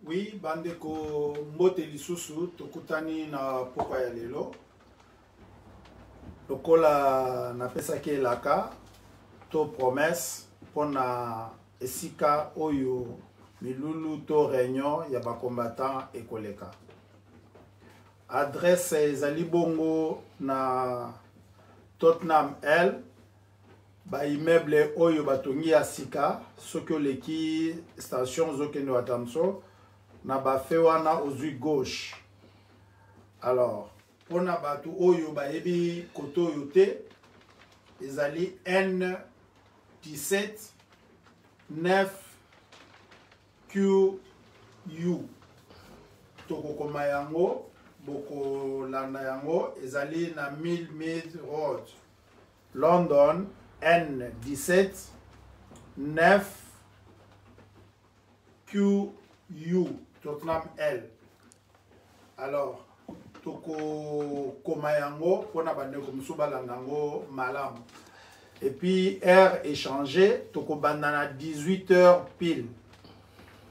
Oui, bandeko mbote lisusu tokutani na pokwa ya lelo lokola napesaki elaka to promesse mpo na esika oyo milulu to réunion ya bacombattant ekoleka adresse ezali bongo na tottenham l baimmeuble oyo batongi ya sika soki oleki station ozokende watamso na bafe wana ozwi gauche alors mpo na bato oyo bayebi kote oyo te ezali n 17 9 qu tokokoma yango bokolanda yango ezali na 1000 mid road London, N 17, 9, QU, Tottenham L. Alors, tokokoma yango mpo na bandeko mosusu balanda yango malamu epuis heure échange tokobanda na 18 heures pile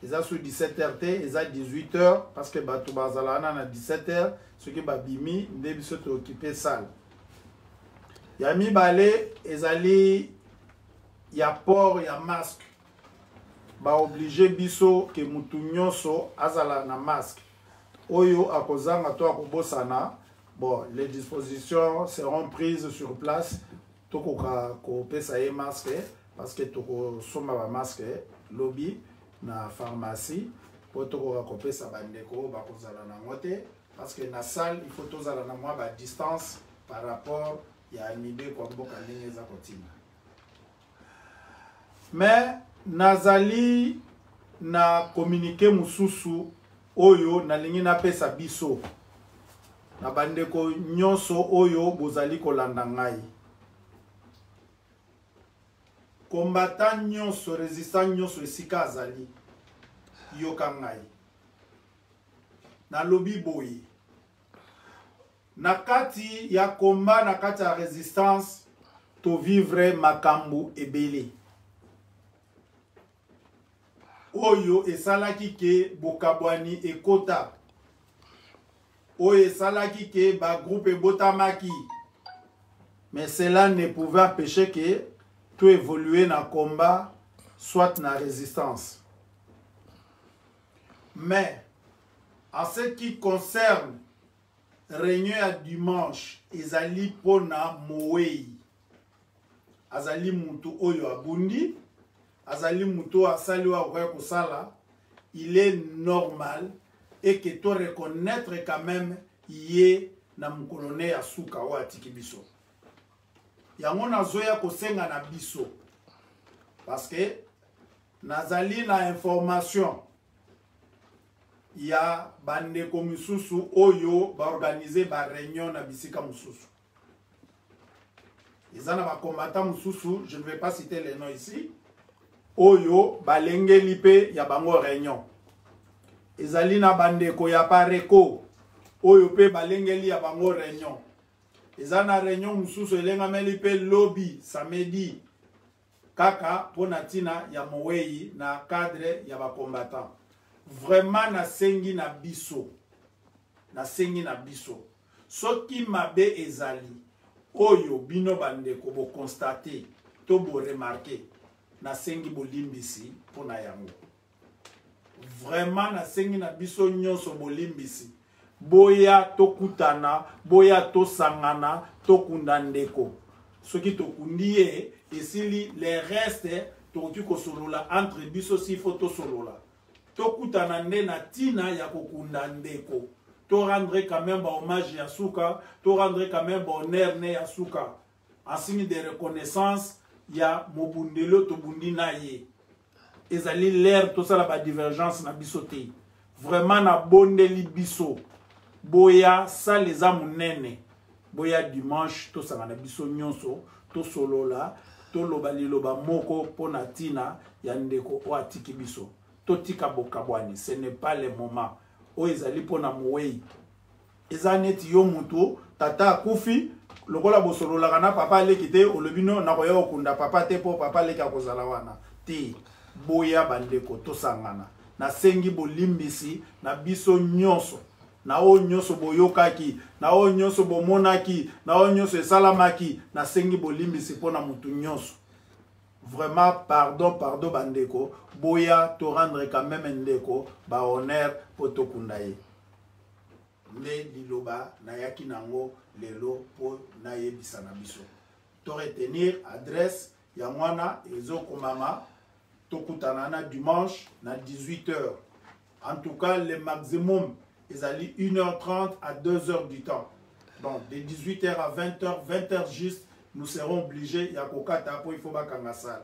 eza sur 17 heures te eza 18 heures parce que bato bazala wana na 17 heures soki babimi nde biso tookipe sale ya mibale ezali ya port ya masque baoblige biso ke motu nyonso azala na masque oyo akozanga to akobosana bon les dispositions seront prises sur place tokoka kopesa ye masque parce que tokosomba bamasque lobi na pharmacie mpo tokoka kopesa bandeko bakozala nango te parce que na salle il faut tozala na mwa ba distance par rapport ya mibeko ya mboka ndenge eza kotinda mais nazali na communiqué mosusu oyo nalingi napesa biso na bandeko nyonso oyo bozali kolanda ngai kombata nyonso resistant nyonso esika azali yoka ngai nalobi boye na kati ya combat na kati ya resistance tovivre makambo ebele oyo esalaki ke bokabwani ekota oyo esalaki ke bagroupe ebotamaki mais cela ne pouvait empêcher que to évoluer na combat soit na résistance mais en ce qui concerne réunion ya dimanche ezali mpo na mowei azali moto oyo abundi azali moto oyo asali oyo akoya kosala il est normal et que to reconnaître quand même ye na mokolo ne ya suka oyo atiki biso yango nazoya kosenga na biso parce que nazali na information ya bandeko misusu oyo baorganize bareunion na bisika mosusu eza na bakombata mosusu je ne vais pas citer le nom ici oyo balengeli mpe ya bango reunion ezali na bandeko ya pareco oyo mpe balengeli ya bango reunion eza na reunion mosusu elengameli mpe lobi samedi kaka mpo na ntina ya mowei na cadre ya bacombattant vraiment nasengi na biso nasengi na biso soki mabe ezali oyo bino bandeko bokonstate to boremarke nasengi bolimbisi mpo na yango vraiment nasengi na biso nyonso bolimbisi boya tokutana boya tosangana tokunda ndeko soki tokundi ye esili le reste tokoki kosolola entre biso sifo tosolola tokutana nde na ntina ya kokunda ndeko to rendre quand même bahommage ya suka to rendre quand même bahonneur ne ya suka en signe de reconnaissance ya mobundeli oyo tobundi na ye ezali lere tosala badivergence na biso te vraiment nabondeli biso boya sale eza monene boya dimanche tosangana biso nyonso tosolola toloba liloba moko mpo na ntina ya ndeko oyo atiki biso totika bokabwani ce n'est pas le moment oyo ezali mpo na mowei eza neti yo moto tata akufi lokola bosololaka na papa aleki te olobi no nakoya kokunda papa te mpo papa aleki akozala wana te boya bandeko tosangana nasengi bolimbisi na biso nyonso na oyo nyonso boyokaki na oyo nyonso bomonaki na oyo nyonso esalamaki nasengi bolimbisi mpo na motu nyonso vraiment pardon pardon bandeko boya torendre quand meme ndeko bahonneur mpo tokunda ye nde liloba nayaki nango lelo mpo nayebisa na biso to retenir adresse yango wana ezokomama tokutana na dimanche na 18 heures en tout cas le maximum ezali 1h30 à 2h du temps donc de 18h à 20h 20h juste nous serons obligés ya kokata mpo il faut bakanga sale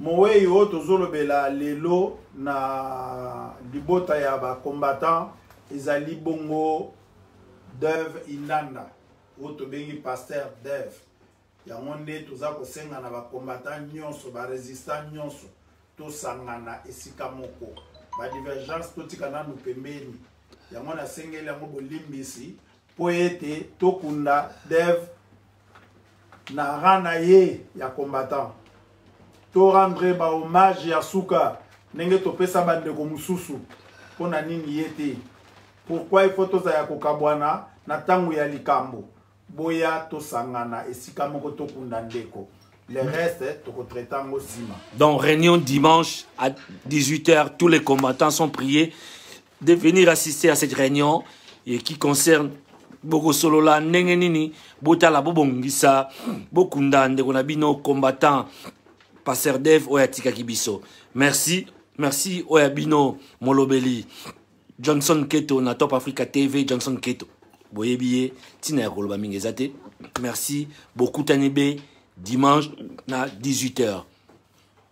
Moweyi oyo tozolobela lelo na libota ya ba combattant ezali bongo Deuve Indanda oyo tobengi pasteur Deuve. Yango nde toza kosenga na ba combattant nyonso ba resistant nyonso tosangana esika moko ba divergence totika nanu pembeni yango nasengeli yango bolimbisi mpo ete tokunda dev na rang na ye ya combattant to rendre ba hommage ya suka ndenge topesa bandeko mosusu mpo na nini ye te pourkui ifo tozala ya kokabwana na ntango ya likambo boya tosangana esika moko tokunda ndeko le reste tokotraite yango nsima donc réunion dimanche à 18 heures tous les combattants sont priés de venir assister à cette réunion et qui concerne bokosolola ndenge nini botala bobongisa bokunda ndeko na bino combattant passer dev oyo atikaki biso merci merci oyo ya bino molobeli johnson keto na top africa tv johnson keto boyebi ye ntina ya koloba mingi eza te merci bokutani be dimanche na 18 heures